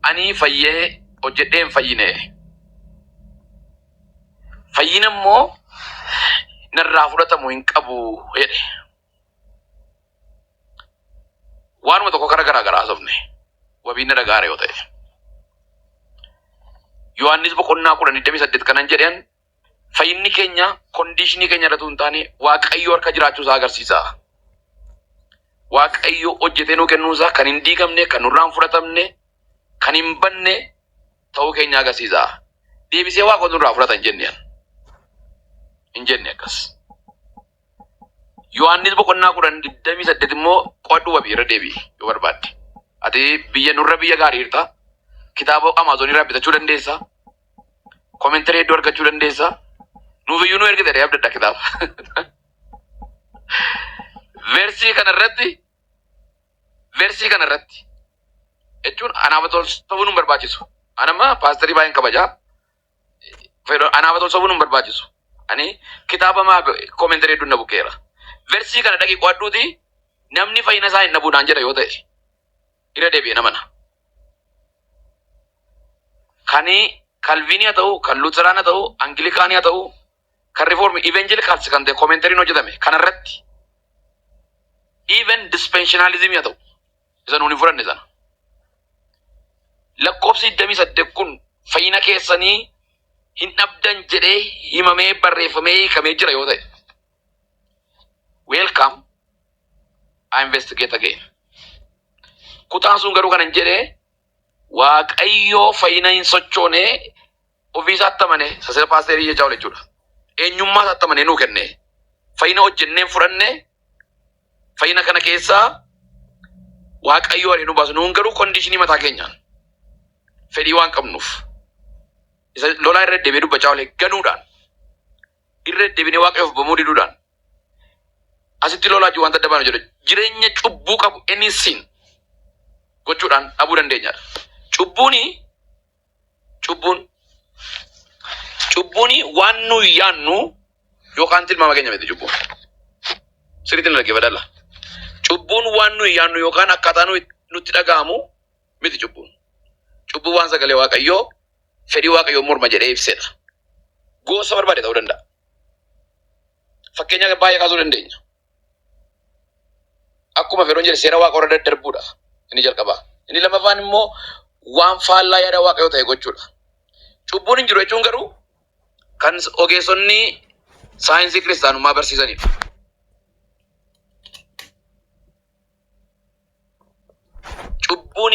Ani fayyee hojjedhee hin fayyine. Fayyina immoo narraa fudhatamu hin qabu jedhe. Waanuma tokko kara garaa garaa haasofne wabiin na dhagaara yoo ta'e. Yohaannis boqonnaa kudhan digdamii saddeet kanan jedheen Fayyinni keenya kondiishinii keenya irratti hin taane Waaqayyoo harka jiraachuu isaa agarsiisa. Waaqayyo hojjetee nuu kennuu isaa kan hin diigamne, kan nurraa hin fudhatamne, kan hin banne ta'uu keenya agarsiisa. Deebisee Waaqotu nurraa fudhata hin jenne. Hin jenne akkas. Yohaannis boqonnaa kudhan digdamii saddeet immoo qo'adhu wabii irra deebi'i yoo barbaadde. Ati biyya nurra biyya gaarii jirta. Kitaaba Amaazonii irraa bitachuu dandeessa. Komentirii hedduu argachuu dandeessa. Nuuf iyyuu nu ergite dhee abdadha kitaaba. Versii kana irratti versii kana irratti jechuun anaaf tol sobuu nu hin barbaachisu. Anamma paastarii baay'een kabajaa. Fedho anaaf tol sobuu nu hin barbaachisu. Ani kitaaba maa komentirii hedduun na bukeera. Versii kana dhaqi qo'adhuuti namni fayyina isaa hin dhabu naan jedha yoo ta'e. ira debi'en amana. Kani Kalviini ha ta'u, kan Luuteraan ha ta'u, Angilikaani ha ta'u, kan Rifoormi, Ivenjelikaalsi kan ta'e komenteriin hojjetame kana irratti even dispenshinalizimii ha ta'u isa nuun hin fudhanne sana. Lakkoofsi 28 kun fayyina keessanii hin dhabdan jedhee himamee barreeffamee hiikamee jira yoo ta'e. Welcome. I investigate again. Kutaan sun garuu kanan jedhe waaqayyoo fayyina hin sochoone ofiisaa attamane sasira paasteerii jechaa oole jechuudha. Eenyummaa isaa attamane nuu kenne. Fayyina hojjenneen fudhanne fayyina kana keessaa waaqayyoo ariin nu baasu nuun garuu kondiishinii mataa keenyaan fedhii waan qabnuuf isa lolaa irra deebi'ee dubbachaa oole ganuudhaan Irra deddebinee Waaqayyoof abbomuu diduudhaan asitti lolaa jiru wanta adda baanu jedha. Jireenya cubbuu qabu any sin gochuudhaan dhabuu dandeenyadha. Cubbuuni cubbuun cubbuuni waan nu yaannu yookaan tilmaama keenya miti cubbuun. Sirriitti na dhaggeeffadhaa. Cubbuun waan nu yaannu yookaan akkaataa nu nutti dhaga'amu miti cubbuun. Cubbuu waan sagalee Waaqayyoo fedhii waaqayyoon morma jedhee ibsedha. Goosa barbaade ta'uu danda'a. Fakkeenya baay'ee kaasuu dandeenya. Akkuma Feroon jedhe seera waaqa warra daddarbuudha. Inni jalqabaa. Inni lammaffaan immoo waan faallaa yaada waaqayyoo ta'e gochuudha. Cubbuun hin jiru jechuun garuu kan ogeessonni saayinsii kiristaanummaa barsiisanidha. Cubbuun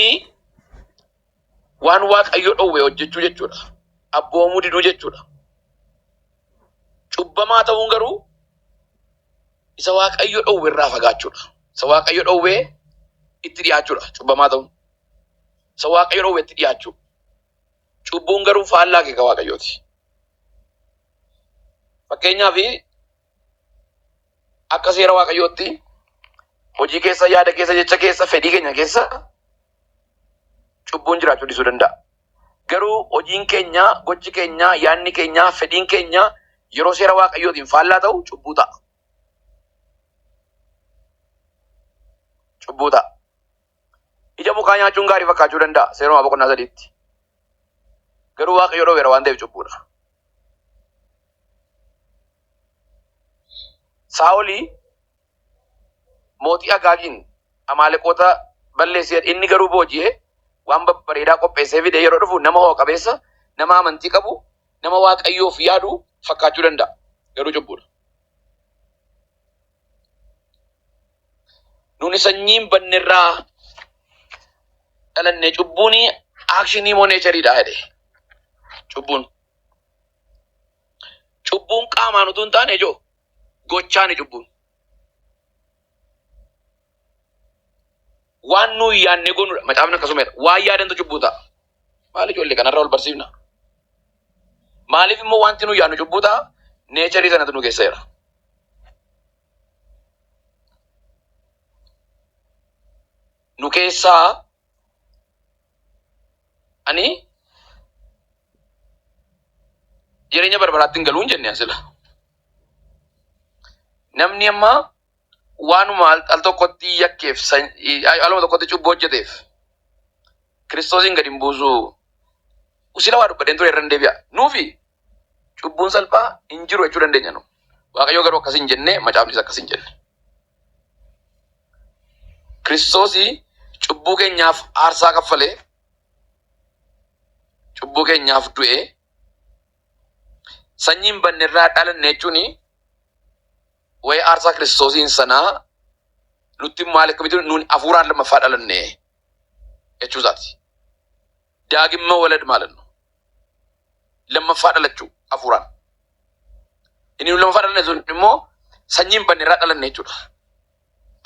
waan Waaqayyo dhowwe hojjechuu jechuudha. Abboomuu diduu jechuudha. Cubbamaa ta'uun garuu isa Waaqayyo dhowwe irraa fagaachuudha. Isa Waaqayyo dhowwe itti dhiyaachuudha. Cubbamaa ta'uun. Isa Waaqayyo dhowwe itti dhiyaachuu. Cubbuun garuu faallaa keeka Waaqayyooti. Fakkeenyaaf akka seera waaqayyootti hojii keessa, yaada keessa, jecha keessa, fedhii keenya keessa cubbuun jiraachuu dhiisuu danda'a. Garuu hojiin keenya, gochi keenya, yaadni keenya, fedhiin keenya yeroo seera waaqayyootiin faallaa ta'u cubbuu ta'a. Cubbuu ta'a. Ija mukaa nyaachuun gaarii fakkaachuu danda'a seerumaa boqonnaa sadiitti. Garuu waaqayyo dhowweera waan ta'eef cubbuudha. Saa'olii mootii Agaagiin Amaaleqoota balleessee inni garuu booji'ee waan babbareedaa qopheessee fide yeroo dhufu nama ho'a qabeessa, nama amantii qabu, nama waaqayyoof yaadu fakkaachuu danda'a. Garuu cubbuudha. Nuni sanyiin bannerraa dhalanne cubbuun aakshinii moo neechariidha jedhe. Cubbuun. Cubbuun qaamaan utuu hin taane ijoo gochaani cubbuun. Waan nuyi yaadne goonudha. Macaafni akkasuma jedha. Waan yaadantu cubbuu ta'a. Maal ijoollee kanarra wal barsiifna? Maaliif immoo wanti nu yaadnu cubbuu ta'a? Neecharii sanatu nu keessa jira. Nu keessaa ani jireenya barbaraatti hin galuun jenne asila. Namni amma waanuma al, al tokkotti yakkeef san- i- ay- aluma tokkotti cubbuu hojjeteef kiristoosiin gadi hin buusuu sila waa dubbadheen ture irra hin deebi'a nuufi cubbuun salphaa hin jiru jechuu dandeenya nu waaqayyoo garuu akkas hin jenne macaafnis akkas hin jenne kiristoosii cubbuu keenyaaf aarsaa kaffalee cubbuu keenyaaf du'ee sanyiin banne irraa dhalanne jechuun Waa'ee aarsaa Kiristoosiin sanaa nutti maal akkamitti nuun hafuuraan lammaffaa dhalanne jechuu isaati. Daagimma walad maalan nu lammaffaa dhalachuu hafuuraan. Inni nu lammaffaa dhalanne sun immoo sanyii hin badne irraa dhalanne jechuudha.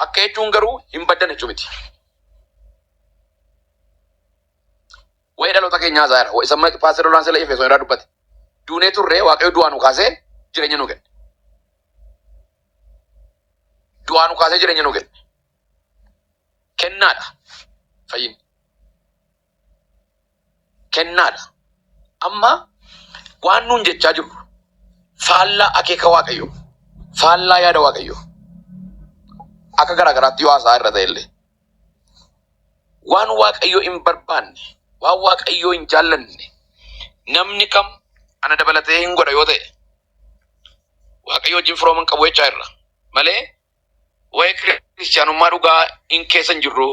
Akka jechuun garuu hin baddan jechuu miti. Wa'ee dhaloota keenyaa haasaa irra. Isa mana Paaster Lolaan Sela Efesoon irraa dubbate. Duunee turre Waaqayyo du'aa nu kaasee jireenya nu kenne. Du'aa nu kaasee jireenya nu kenne. Kennaadha fayyinni. Kennaadha. Amma waan nuun jechaa jirru faallaa akeeka Waaqayyoo, faallaa yaada Waaqayyoo akka garaa garaatti yoo haasaa irra ta'e illee. Waan Waaqayyo hin barbaanne, waan Waaqayyo hin jaallanne namni kam ana dabalatee hin godha yoo ta'e Waaqayyo wajjin firooma hin qabu jechaa irra malee waa'ee kiristiyaanummaa dhugaa hin keessa hin jirru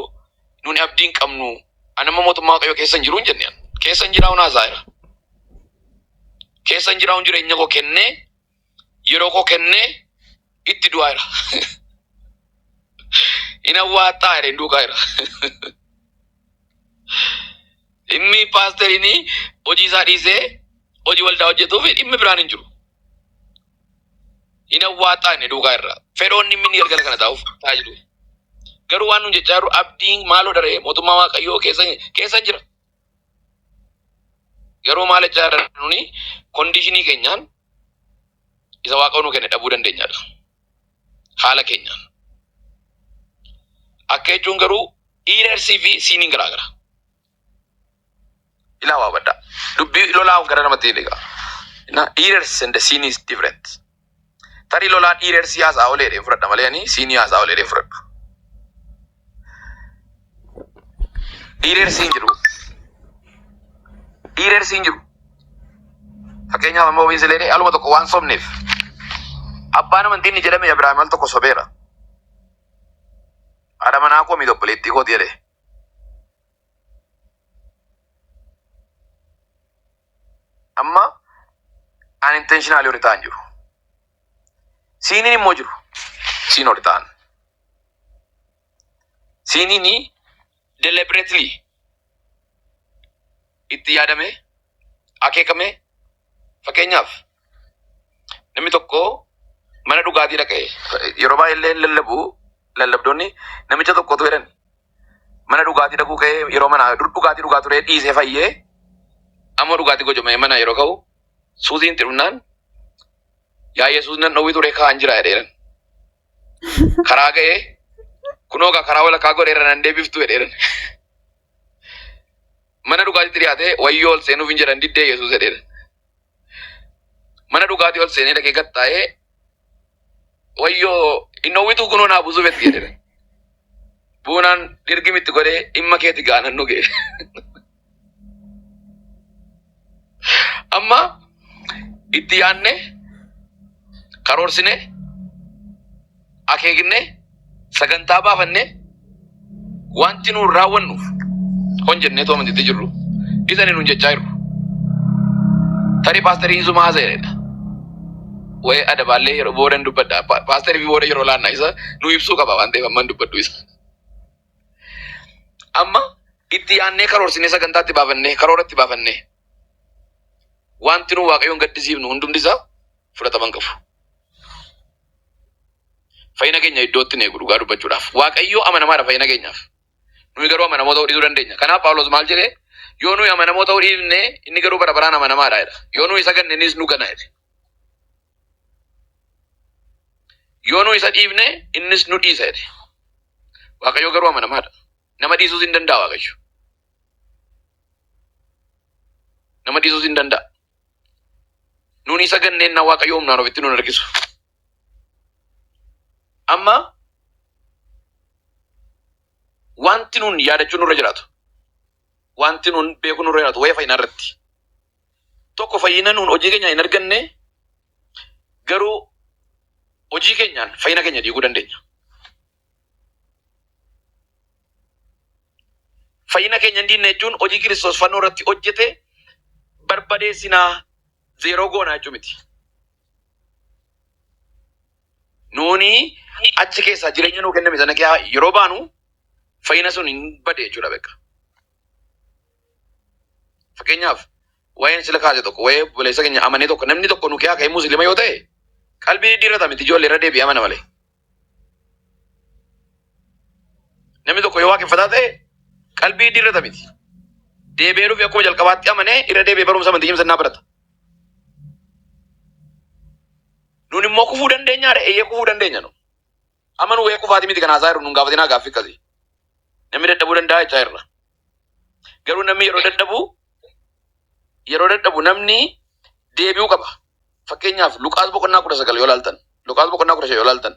nuuni abdii hin qabnu ani amma mootummaa Waaqayyo keessa hin jiru hin jenne keessa hin jiraa hunaasaa jira keessa hin jiraa hun jireenya koo kennee yeroo koo kennee itti du'aa jira. Hin awwaattaa jedhe hin duukaa jira. Dhimmi paasteriin hojii isaa dhiisee hojii waldaa hojjetuuf dhimmi biraan hin jiru. Hin awwaattaa inni duukaa irra. Fedhoonni inni galgala kana taa'uuf taa'aa jiru. Garuu waan nuun jechaa jiru abdiin maaloo daree mootummaa waaqayyoo keessa keessa jira. Garuu maal jechaa jirra nuni kondiishinii keenyaan isa waaqa nu kenne dhabuu dandeenyaadha. Haala keenyaan. Akka jechuun garuu iireersii fi siiniin garaa gara. Ilaa waa baddaa. Dubbii lolaa gara namatti hin egaa. Iireers and siin is different. Tarii lolaan dhiireer sii haasa'aa olee jedheen fudhadha malee ani sii nii haasa'aa olee jedheen fudhadhu. Dhiireer siin jedhu dhiireer siin jedhu fakkeenyaaf amma ofiin silee aluma tokko waan sobneef abbaan amantiin ni jedhame Abiraam al tokko sobeera. Haadha manaa koo miidha obboleettii kooti jedhee. Amma an intentionally ol ta'an jiru. Siiniin immoo jiru. Siin ol ta'an. Siiniin deliberately itti yaadamee akeekamee fakkeenyaaf Namni tokko mana dhugaatii dhaqe yeroo baay'ee illee lallabu lallabdoonni namicha tokkotu jedhan mana dhugaatii dhaquu ka'ee yeroo mana dur dhugaatii dhugaa turee dhiisee fayyee amma dhugaatii gojomee mana yeroo ka'u suuziin itti dhufnaan yaa yesuus nan dhowwii turee ka'an jira jedheeran karaa ga'ee kunoo gaa karaa walakkaa godheera nan deebiftu jedheeran mana dhugaatitti dhiyaatee wayyoo ol seenuuf hin jedhan diddee yesuus jedheeran Mana dhugaatii ol seenee dhaqee gad taa'ee wayyoo innoowwituu kunoo naa buusuu betti jedhera. Buunaan dirgimitti godhee dhimma keeti gaanan dhugee. Amma itti yaadne karoorsine akeeknee sagantaa baafannee wanti nuun raawwannu hon jennee tooma itti jirru isani nuun jechaa jirru. Tarii paastarii isuma haasa'edha. Waa'ee adabaallee yeroo booda hin dubbadha. Pa- Paastarii fi booda yeroo laanna isa nu ibsuu qaba waan ta'eef amma hin dubbadhu isa. Amma itti yaannee karoorsinee sagantaa itti baafannee karoora itti baafannee wanti nu waaqayyoon gaddisiifnu hundumti isaa fudhataman qabu. Fayyina keenya iddootti hin eegu dhugaa dubbachuudhaaf. Waaqayyo amanamaadha fayyina keenyaaf. Nuyi garuu amanamoo ta'uu dhiisuu dandeenya. Kanaaf Phaawulos maal jedhe? Yoo nuyi amanamoo ta'uu dhiifne inni garuu bara baraan amanamaadha jedha. Yoo nuyi isa ganne innis nu gana jedhe. Yoo nuyi isa dhiifne innis nu dhiisa jedhe. Waaqayyo garuu amanamaadha. Nama dhiisuus hin danda'a Waaqayyo. Nama dhiisuus hin danda'a. Nuun isa ganneenna Waaqayyo humnaan ofitti nun harkisu. Amma wanti nuun yaadachuu nurra jiraatu. Wanti nuun beekuu nurra jiraatu wayee fayyinaa irratti. Tokko fayyina nuun hojii keenyaan hin arganne garuu hojii keenyaan fayyina keenya diiguu dandeenya. Fayyina keenya hin diinna jechuun hojii Kiristoos fannoo irratti hojjete barbadeessinaa zeeroo goonaa jechuu miti. Nuuni achi keessaa jireenya nuu kenname sana keessaa yeroo baanu fayyina sun hin bade jechuudha beeka. Fakkeenyaaf waa'een sila kaase tokko waa'ee obboleessa keenya amanee tokko namni tokko nu keessaa ka'ee muslima yoo ta'e qalbii diddiirrata miti ijoollee irra deebi'ee amana malee. Namni tokko yoo waaqeffataa ta'e qalbii iddii irrata miti. Deebi'ee dhufe akkuma jalqabaatti amanee irra deebi'ee barumsa amantii cimsannaa barata. Nuun immoo kufuu dandeenya dha eeyyee kufuu dandeenya nu. Amma nu wayee kufaati miti kan haasaa irra nuun gaafatinaa gaaffii akkasii. Namni dadhabuu danda'a jechaa irra. Garuu namni yeroo dadhabu yeroo dadhabu namni deebi'uu qaba. Fakkeenyaaf Luqaas boqonnaa kudha sagal yoo ilaaltan Luqaas boqonnaa kudha shan yoo ilaaltan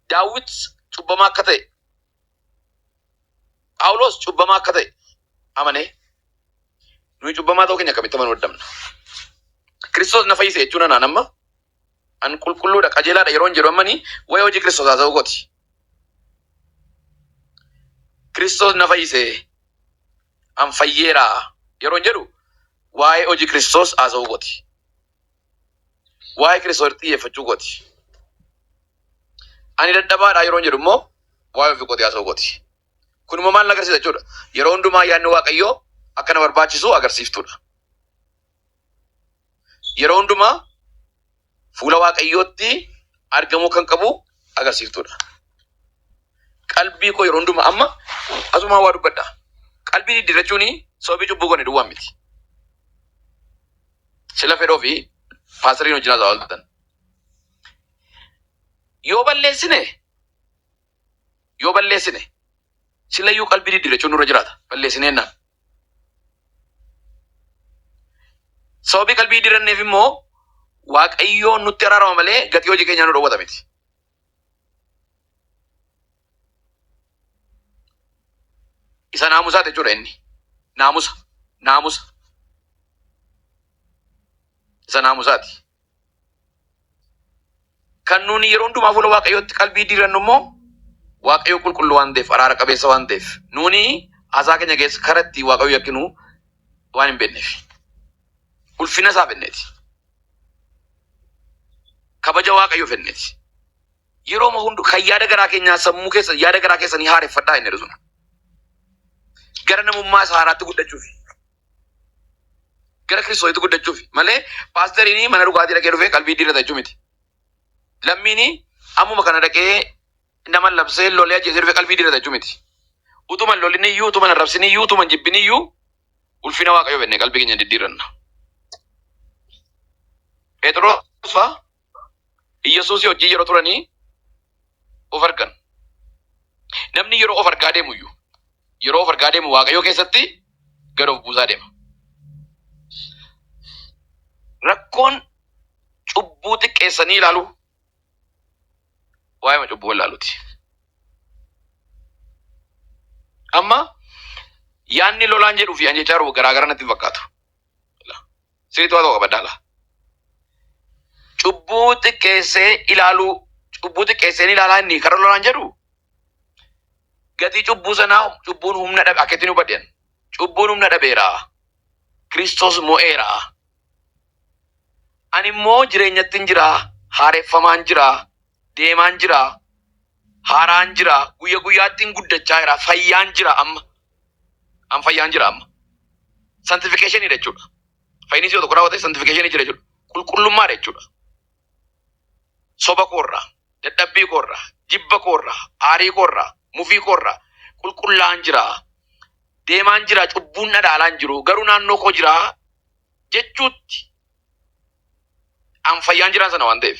Daawit cubbamaa akka ta'e Phaawulos cubbamaa akka ta'e amanee nuyi cubbamaa ta'uu keenya akkamitti amanuu dadhabna? Kiristoos na fayyise jechuun anaan amma An qulqulluudha, qajeelaadha yeroon jedhu ammani waa'ee hojii Kiristoos haasa'uu kooti. Kiristoos na fayyise, an fayyeera yeroon jedhu waa'ee hojii Kiristoos haasa'uu kooti. Waa'ee Kiristoos xiyyeeffachuu kooti. Ani dadhabaadha yeroon jedhu immoo waa'ee ofii kootii haasa'uu kooti. Kun immoo maal na agarsiisa jechuudha? Yeroo hundumaa yaadni Waaqayyoo akka na barbaachisu agarsiiftuudha. yeroo hundumaa fuula waaqayyootti argamuu kan qabu agarsiiftuudha. Qalbii koo yeroo hundumaa amma asumaa waa dubbadha. Qalbii diddiirrachuun sababii cubbuu goone duwwaa miti. Sila fedhoo fi paastariin hojii naasaa ooltan. Yoo balleessine yoo balleessine Silayyuu qalbii diddiirrachuun nurra jiraata. Balleessinee jennaan. Sababii qalbii diddiirranneef immoo Waaqayyoon nutti araarama malee gatii hojii keenyaa nu dhowwata miti. Isa naamusaati jechuudha inni. Naamusa. Naamusa. Isa naamusaati. Kan nuuni yeroo hundumaa fuula Waaqayyootti qalbii diirannu immoo Waaqayyo qulqulluu waan ta'eef, araara qabeessa waan ta'eef, nuuni haasaa keenya keessa kara itti Waaqayyo yakkinu waan hin beekneef. Ulfina isaa fenneeti. Kabaja Waaqayyo fenneeti. Yeroo hundu kan yaada garaa keenyaa sammuu keessa yaada garaa keessanii haareffadhaa inni jedhu sun. Gara namummaa isaa haaraatti guddachuuf. Gara Kiristoositti guddachuuf malee paasteriin mana dhugaatii dhaqee dhufee qalbii diirrata jechuu miti. Lammiin ammuma kana dhaqee nama labsee lolee ajjeesee dhufee qalbii diirrata jechuu miti. Utuma hin lolin iyyuu, utuma hin arrabsin iyyuu, utuma hin jibbin iyyuu ulfina Waaqayyoo beeknee qalbii keenya diddiirranna. Phexros fa'aa Iyyasuusii wajjin yeroo turanii of argan. Namni yeroo of argaa deemu iyyuu yeroo of argaa deemu waaqayyoo keessatti gad of buusaa deema. Rakkoon cubbuu xiqqeessanii ilaalu waa'ee cubbuu ilaaluuti. Amma yaanni lolaan jedhuu fi an jechaa jiru garaa gara natti hin fakkaatu. Siriitu haasa'u qaba daala. Cubbuu xiqqeessee ilaaluu cubbuu xiqqeesseen ilaalaa inni karaa lolaan jedhu gatii cubbuu sanaa cubbuun humna dhabe akka ittiin hubadhen cubbuun humna dhabeera Kiristoos mo'eera ani immoo jireenyattiin jira haareffamaan jira deemaan jira haaraan jira guyya guyyaattiin guddachaa jira fayyaan jira amma An fayyaan jira amma. Santifikeshiniidha jechuudha. Fayyinisi yoo tokko raawwate santifikeshinii jira jechuudha. Qulqullummaadha jechuudha. Soba koorraa, dadhabbii koorraa, jibba koorraa, aarii koorraa, mufii koorraa qulqullaa'an jira. Deemaan jira cubbuun dhadhaalaan jiru garuu naannoo koo jira jechuutti an fayyaan jiraan sana waan ta'eef.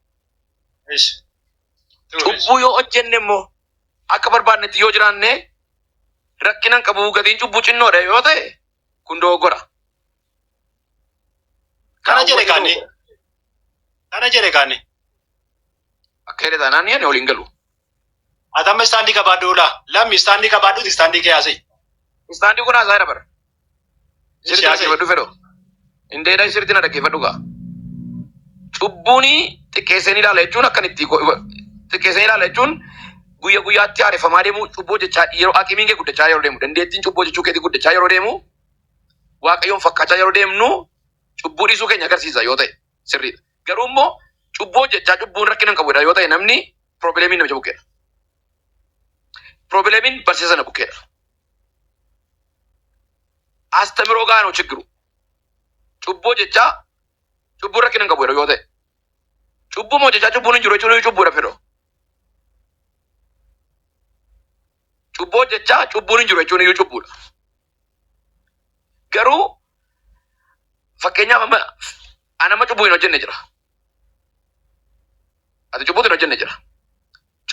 Ish. Cubbuu yoo hojjenne immoo akka barbaadnetti yoo jiraanne rakkina hin qabu gatiin cubbuu xinnoodha yoo ta'e kun dogoggora. Kana jedhe kaanni. Kana jedhe kaanni. Akka jedhe taanaan ani waliin galu. Atamma istaandii qabaadhu ulaa. Lammi istaandii qabaadhuti istaandii kee haasa'e. Istaandii kun haasaa dabar. Sirti dhaggeeffadhu fedho. Indeedha sirti na dhaggeeffadhu gaa. Cubbuuni xiqqeessanii ilaala jechuun akkan itti xiqqeessanii ilaala jechuun guyya guyyaatti haareffamaa deemu cubbuu hojjechaa yeroo aqimiin kee guddachaa yeroo deemu dandeettiin cubbuu hojjechuu keetii guddachaa yeroo deemu waaqayyoon fakkaachaa yeroo deemnu cubbuu dhiisuu keenya agarsiisa yoo ta'e. sirriidha. Garuu immoo cubbuu hojjechaa cubbuun rakkina hin qabudha yoo ta'e namni piroobileemiin namicha bukkeedha. Piroobileemiin barsiisa sana bukkeedha. Astamiroo gaanu chiggiru. Cubbuu hojjechaa cubbuun rakkina hin qabudha yoo ta'e. Cubbuu hojjechaa cubbuun hin jiru jechuun cubbuudha fedho. Cubbuu hojjechaa cubbuun hin jiru jechuun iyyuu cubbuudha. Garuu Fakkeenyaaf amma ani amma cubbuu hin hojjenne jira. Ati cubbuu hin hojjenne jira.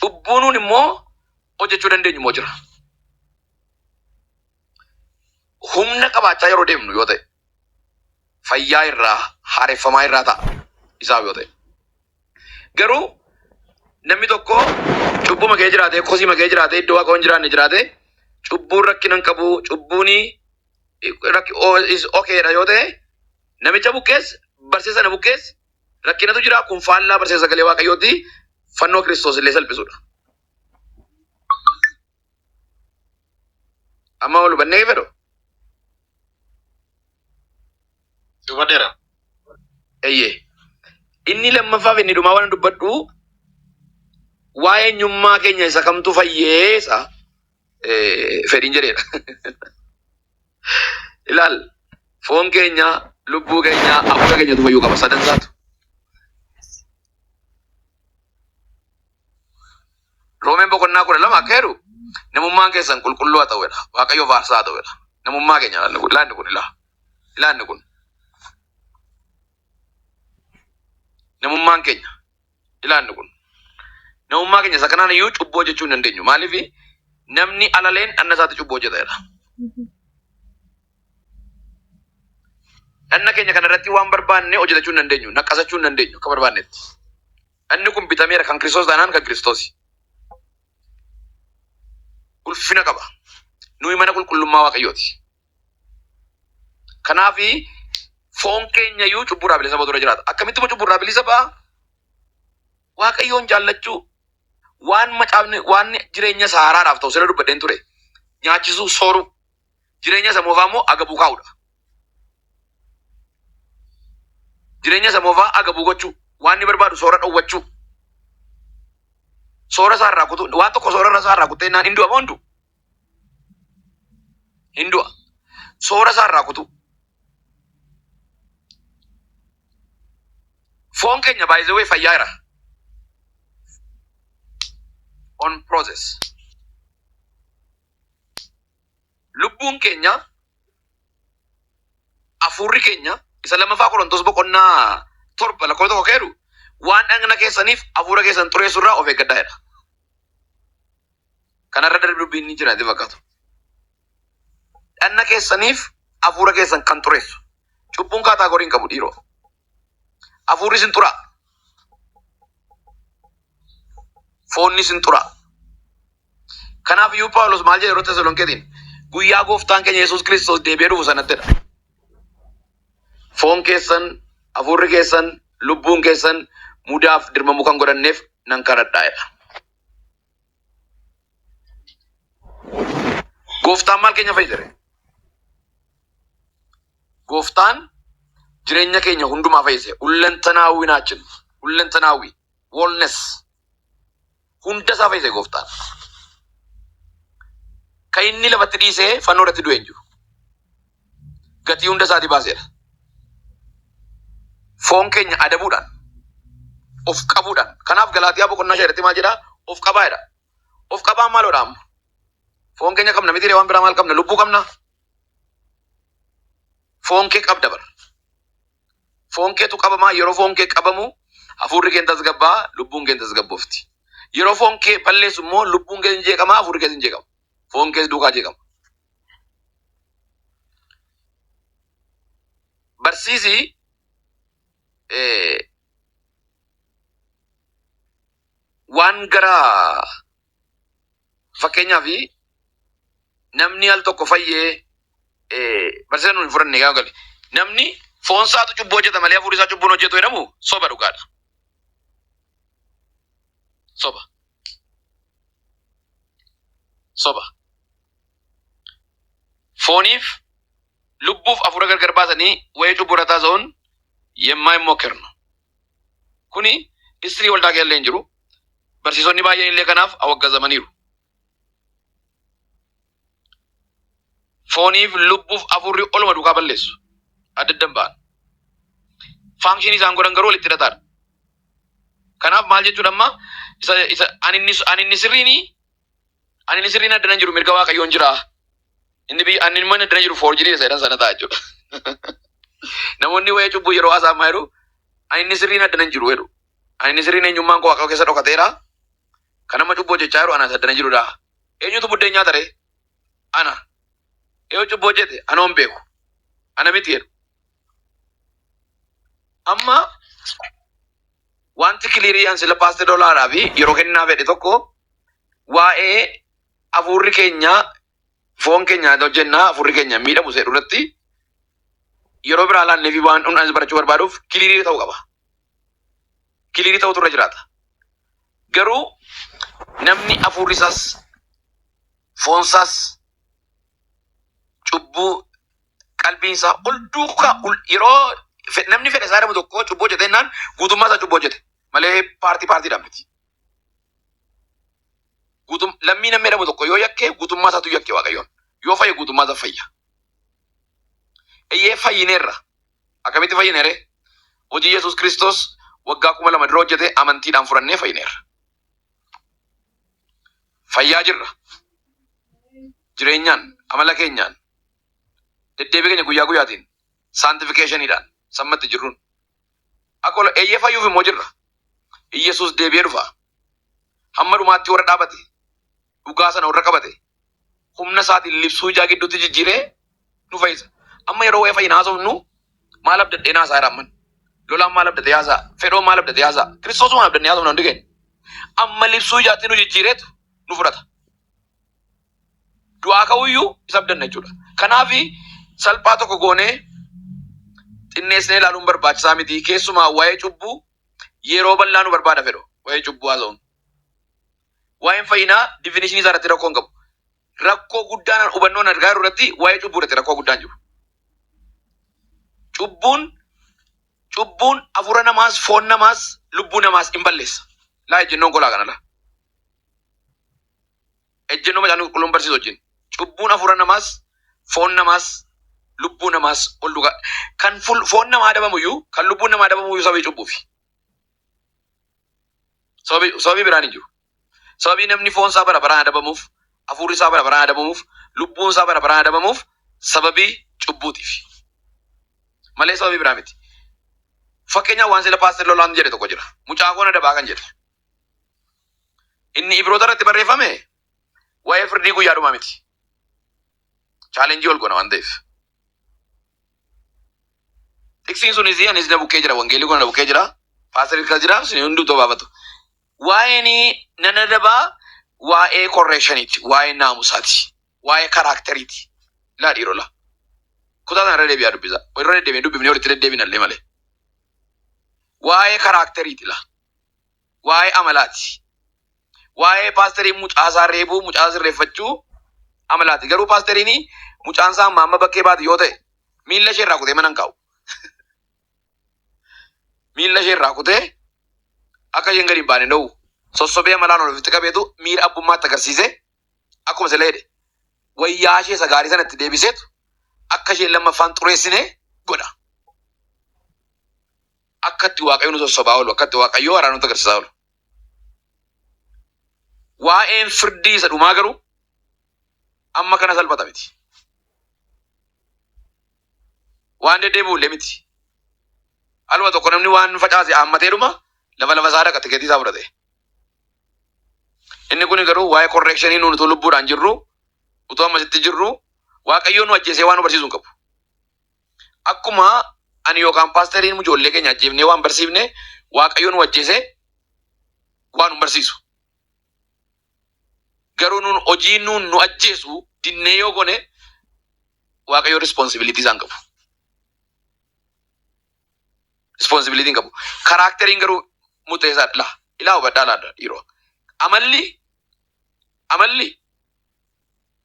Cubbuu nuun immoo hojjechuu dandeenyu immoo jira. Humna qabaachaa yeroo deemnu yoo ta'e fayyaa irraa haareffamaa irraa ta'a isaaf yoo ta'e. Garuu namni tokko cubbuu makee jiraatee kosii makee jiraatee iddoo waaqa hin jiraanne jiraatee cubbuun rakkina hin qabu cubbuun rakki o- is okay dha yoo ta'e namicha buqqees barsiisa sana buqqees rakkinatu jira kun faallaa barsiisa sagalee waaqayyooti fannoo kiristoos illee salphisudha. Amma ol hubannee fedhu Dubadeera. eeyyee inni lammaffaa fi inni dhumaa waan dubbadhu waa'ee eenyummaa keenya isa kamtu fayyeessa eh, fedhiin jedheedha. Ilaal foon keenya, lubbuu keenya, hafuura keenyatu fayyuu qaba sadan isaatu. Roomeen boqonnaa kudha lama akka jedhu namummaan keessan qulqulluu haa ta'uudha. Waaqayyo faarsaa haa ta'uudha. Namummaa keenya ilaanni kun ilaanni kun ilaa ilaanni kun namummaan keenya ilaanni kun. Namummaa keenya isa kanaan iyyuu cubbuu hojjechuu hin dandeenyu. Maaliif namni alaleen dhanna isaatti cubbuu hojjeta jedha. Dhanna keenya kana irratti waan barbaanne hojjetachuu hin dandeenyu. Naqqasachuu hin dandeenyu akka barbaannetti. Dhanni kun bitameera kan Kiristoos taanaan kan Kiristoosi. Ulfina qaba. Nuyi mana qulqullummaa Waaqayyooti. Kanaaf foon keenya iyyuu cubbuurraa bilisa ba'utu irra jiraata. Akkamitti immoo cubbuurraa bilisa ba'a? Waaqayyoon jaallachuu waan macaafni waan jireenya isaa haaraadhaaf ta'u sirra dubbadheen ture. Nyaachisuu, sooruu, jireenya isa moofaa immoo agabuu kaa'udha. Jireenya isa moofaa agabuu gochuu, waan inni barbaadu soora dhowwachuu, soora isaa irraa kutuu, waan tokko soora isaa irraa kuttee naan hin du'a moo hin du'u? hin du'a. Soora isaa irraa kutuu. Foon keenya by the way fayyaa jira. On process. Lubbuun keenya hafuurri keenya isa lammaffaa Qorontos boqonnaa torba lakkoofsa tokko keeru waan dhagna keessaniif hafuura keessan xureessu irraa of eeggadhaa jedha. Kana irra darbe dubbiin ni jira jedhee fakkaatu. Dhanna keessaniif hafuura keessan kan xureessu. Cubbuun kaataagorii hin qabu dhiiroo. Hafuurri isin xuraa. Foonni isin xuraa. Kanaaf iyyuu Phaawulos maal jedhe yeroo Tesalonikeetiin guyyaa gooftaan keenya Yesuus Kiristoos deebi'ee dhufu sanattidha. Foon keessan, hafuurri keessan, lubbuun keessan mudaaf dirmamuu kan godhanneef nan kadhadhaa jedha. Gooftaan maal keenya fayyadare? Gooftaan jireenya keenya hundumaa fayyise. Hullantanaawwi naachin. Hullantanaawwi. Wellness. Hunda isaa fayyise gooftaan. Kan inni lafatti dhiisee fannoo irratti du'e hin jiru. gatii hunda isaatii baaseera. Foon keenya adabuudhaan, of qabuudhaan. Kanaaf Galaatiyaa boqonnaa shan irratti maal jedhaa? Of qabaa jedha. Of qabaan maaloodha amma? Foon keenya qabna miti ree waan biraa maal qabna? Lubbuu qabna? Foon kee qabda bara. Foon keetu qabamaa yeroo foon kee qabamu hafuurri kee tasgabbaa lubbuun kee tasgabboofti. Yeroo foon kee balleessu immoo lubbuun kee hin jeeqamaa hafuurri kee hin jeeqama. foon kees duukaa jeeqama. Barsiisi eh, waan gara fakkeenyaaf namni al tokko fayyee eh, barsiisa nuun hin fudhanne gaa gale. Namni foon isaatu cubbuu hojjeta malee hafuurri isaa cubbuu hin hojjetu jedhamu soba dhugaadha. Soba. Soba. Fooniif lubbuuf afuura gargar baasanii wayii cubbuu irra taasa'uun yemmaa hin mokkernu. Kuni istirii waldaa keellee hin jiru. Barsiisonni baay'een illee kanaaf awwaggazamaniiru. fooniif lubbuuf afuurri oluma duukaa balleessu adda addan ba'an. Faankishinii isaan godhan garuu walitti hidhataadha. Kanaaf maal jechuudha amma isa isa ani inni ani inni sirriini ani inni sirriin addana hin jiru mirga waaqayyoon jira inni biyya ani immoo inni addana jiru foorjirii isa jedhan sana ta'a jechuudha. Namoonni waa'ee cubbuu yeroo haasa'an maal jedhu ani inni sirriin addana hin jiru jedhu ani inni sirriin eenyummaan koo waaqayyoo keessa dhokateera Kan amma cubbuu hojjechaa jiru ana isa addana jirudha. Eenyutu buddeen nyaata ree? Ana. Yoo cubbuu hojjete ana hin beeku. Ana miti jedhu. Amma wanti kiliirii an sila paaste dolaadhaa fi yeroo kennaa fedhe tokko waa'ee hafuurri keenya foon keenya hojjennaa hafuurri keenya miidhamu seedhu irratti yeroo biraa laannee fi waan hundaanis barachuu barbaaduuf kiliirii ta'uu qaba. kiliirii ta'utu irra jiraata. Garuu namni hafuurri isaas foon isaas cubbuu qalbiin isaa ol duukaa ol- yeroo fe- namni fedha isaa dhabu tokko cubbuu hojjete jennaan guutummaa isaa cubbuu hojjete malee paartii paartiidhaan miti. Guutum lammii namni dhabu tokko yoo yakke guutummaa isaatu yakke waaqayyoon yoo fayye guutummaa isaa fayya. Eeyyee fayyineerra Akkamitti fayyine ree? Hojii Yesuus Kiristoos waggaa kuma lama dura hojjete amantiidhaan fudhannee fayyineerra. Fayyaa jirra. Jireenyaan, amala keenyaan, deddeebii keenya guyyaa guyyaatiin, saantifikeeshaniidhaan, sammatti jirruun. Akka ol eeyyee fayyuuf immoo jirra. Yesuus deebi'ee dhufa. Hamma dhumaatti warra dhaabate dhugaa sana warra qabate humna isaatiin libsuu ijaa gidduutti jijjiiree nu fayyisa. Amma yeroo waa'ee fayyina haasofnu maal abdadhee naasaa jira amman. Lolaan maal abdatee haasaa? Fedhoon maal abdatee haasaa? Kiristoosuma maal abdannee haasofna hundi keenya. Amma libsuu ijaatti nu jijjiireetu nu fudhata. Du'aa ka'uyyuu isa abdanna jechuudha. Kanaaf salphaa tokko goonee xinneessinee ilaaluun barbaachisaa miti. Keessumaa waa'ee cubbuu yeroo bal'aa nu barbaada fedhu. Waa'ee cubbuu haasa'uun. Waa'een fayyinaa difinishinii isaa irratti rakkoo hin qabu. Rakkoo guddaan hubannoon argaa jiru irratti waa'ee cubbuu irratti rakkoo guddaan jiru. Cubbuun cubbuun hafuura namaas, foon namaas, lubbuu namaas hin balleessa. Laa ejjennoon kolaa kana laa. Ejjennoo macaan qulqulluun barsiisu wajjin. Cubbuun hafuura namaas, foon namaas, lubbuu namaas ol dhugaa. Kan ful- foon namaa adabamu iyyuu, kan lubbuun namaa adabamu iyyuu sababii cubbuufi. Sababi sababii biraan hin jiru. Sababii namni foon isaa bara baraan adabamuuf, hafuurri isaa bara baraan adabamuuf, lubbuun isaa bara baraan adabamuuf sababii cubbuutiif. Malee sababii biraa miti. Fakkeenyaaf waan sila paastir Lolaan jedhe tokko jira. Mucaa koon adabaa kan jedhe. Inni Ibroota irratti barreeffame waa'ee firdii guyyaa dhumaa miti. Chaalenjii ol goona waan ta'eef. Tiksiin sunis anis na bukkee jira wangeelli kun na bukkee jira. Paastar Irkaa jira isin hunduu tobaafatu. Waa'een nan adabaa waa'ee korreekshaniiti waa'ee naamusaati waa'ee karaakteriiti. Laa dhiiroo laa. Kutaa sana irra deebi'aa dubbisa. Irra deddeebiin dubbifnee walitti deddeebiin allee malee. Waa'ee karaakteriiti laa. waa'ee amalaati. Waa'ee paastariin mucaasaa reebuu, mucaasaa sirreeffachuu amalaati. Garuu paastariin mucaan isaa amma amma bakkee baate yoo ta'e miilla ishee irraa kutee mana hin kaa'u. Miilla ishee irraa kutee akka isheen gadi hin baane dhowwu. Sossobee amalaan ol ofitti qabeetu miira abbummaatti agarsiisee akkuma sila jedhe wayyaa ishee isa gaarii sanatti deebiseetu akka isheen lammaffaan xureessine godha. akka itti Waaqayyo nu sossobaa oolu, akka itti Waaqayyo araara nutti agarsiisaa oolu. Waa'een firdii isa dhumaa garuu amma kana salphata miti. Waan deddeebi'u illee miti. Aluma tokko namni waan facaase haammatee dhuma lafa lafa isaa dhaqa tikeetii isaa fudhate. Inni kun garuu waa'ee korreekshinii nuun utuu lubbuudhaan jirru utuu ammasitti jirru Waaqayyo nu ajjeesee waan nu barsiisu hin qabu. Akkuma ani yookaan paasteriin ijoollee keenya ajjeefnee waan barsiifne waaqayyo nu ajjeese waan nu barsiisu. Garuu nuun hojii nuun nu ajjeesu dinnee yoo gone waaqayyo rispoonsibiliitii isaan qabu. Rispoonsibiliitiin qabu. Karaakteriin garuu murteessaa dha. Ilaa ilaa hubadhaa laadha dhiiroo. Amalli amalli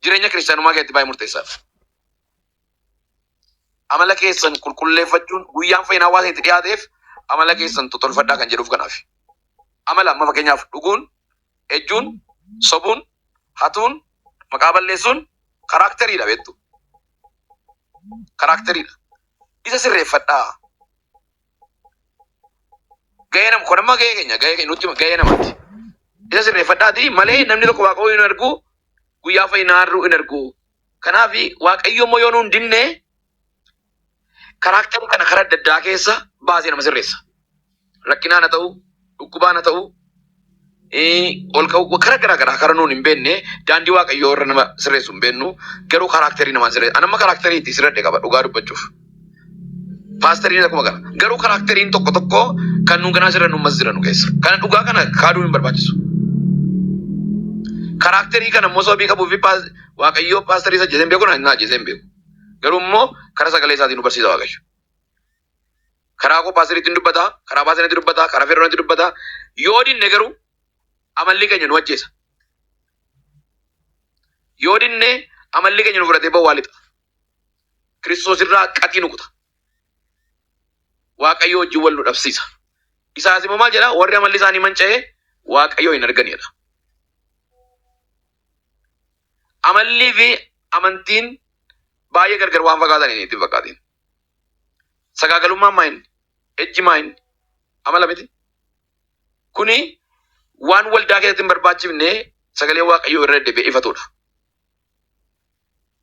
jireenya kiristaanummaa keessatti baay'ee murteessaa dha. Amala keessan qulqulleeffachuun guyyaan fayyinaa waan itti dhiyaateef amala keessan totolfadhaa kan jedhuuf kanaaf. Amala amma fakkeenyaaf dhuguun, ejjuun, sobuun, hatuun, maqaa balleessuun karaakteriidha beektu. Karaakteriidha. Isa sirreeffadhaa. Gahee nama kun amma gahee keenya gahee keenya nutti gahee namaati. Isa sirreeffadhaati malee namni tokko waaqoo hin argu guyyaa fayyinaa har'uu hin argu. Kanaaf waaqayyo immoo yoo nuun dinne karaakterii kana karaa adda addaa keessa baasee nama sirreessa. Rakkinaan haa ta'u, dhukkubaan haa ta'u, eh, ol ka'u karaa garaa garaa karaa nuun hin beekne daandii waaqayyoo irra nama sirreessu hin beeknu garuu karaakterii namaan sirreessa. Anamma karaakterii itti sirredhe qaba dhugaa dubbachuuf. Paastariin akkuma kana. Garuu karaakteriin tokko tokko kan nu ganaa jiran ummas jiran nu keessa. Kana dhugaa kana kaaduu hin barbaachisu. Karaakterii kana immoo sababii qabuu fi paas- waaqayyoo paastarii isa ajjeesee hin beeku na na ajjeesee hin beeku. Garuu immoo karaa sagalee isaatiin nu barsiisa waaqayyo. Karaa koo paastariitti hin dubbata, karaa paastariitti dubbata, karaa feerroonitti dubbata. Yoo dinne garuu amalli keenya nu ajjeesa. Yoo dinne amalli keenya nu fudhatee bawwaa lixa. Kiristoos irraa qatii nu kuta. Waaqayyoo wajjin wal nu dhabsiisa. Isaas immoo maal jedha? Warri amalli isaanii manca'ee Waaqayyoo hin arganidha. Amallii fi amantiin baay'ee gargar waan fakkaatan hin ittiin fakkaatin. Sagaagalummaan maa inni? Ejji maa inni? Amala miti. Kuni waan waldaa keessatti hin barbaachifne sagalee Waaqayyoo irra deddeebi'ee ifatudha.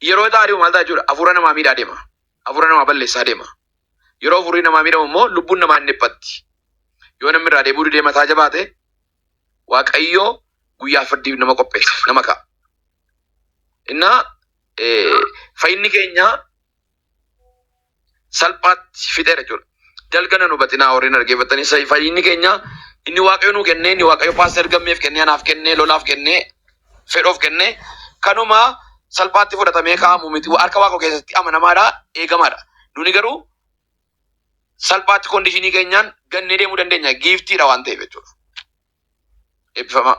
Yeroo ixaa ari'u maal ta'a jechuudha? Hafuura namaa miidhaa deema. Hafuura namaa balleessaa deema. Yeroo hafuurri namaa miidhamu immoo lubbuun namaa hin dhiphatti. Yoo namni irraa deebi'uu didee mataa jabaate Waaqayyo guyyaa firdiif nama qopheessa, nama ka'a. Innaa eh, fayyinni keenya salphaatti fixeera jechuudha. Dalga nan hubatinaa warreen dhaggeeffattanii sa- fayyinni keenya inni waaqayyo nuu kennee inni waaqayyo paaster gammeef kennee anaaf kennee lolaaf kennee fedhoof kennee kanuma salphaatti fudhatamee kaa'amu miti harka waaqoo keessatti amanamaadha eegamaadha. Nuni garuu salphaatti kondishinii keenyaan gannee deemuu dandeenya giiftiidha waan ta'eef jechuudha. Eebbifamaa.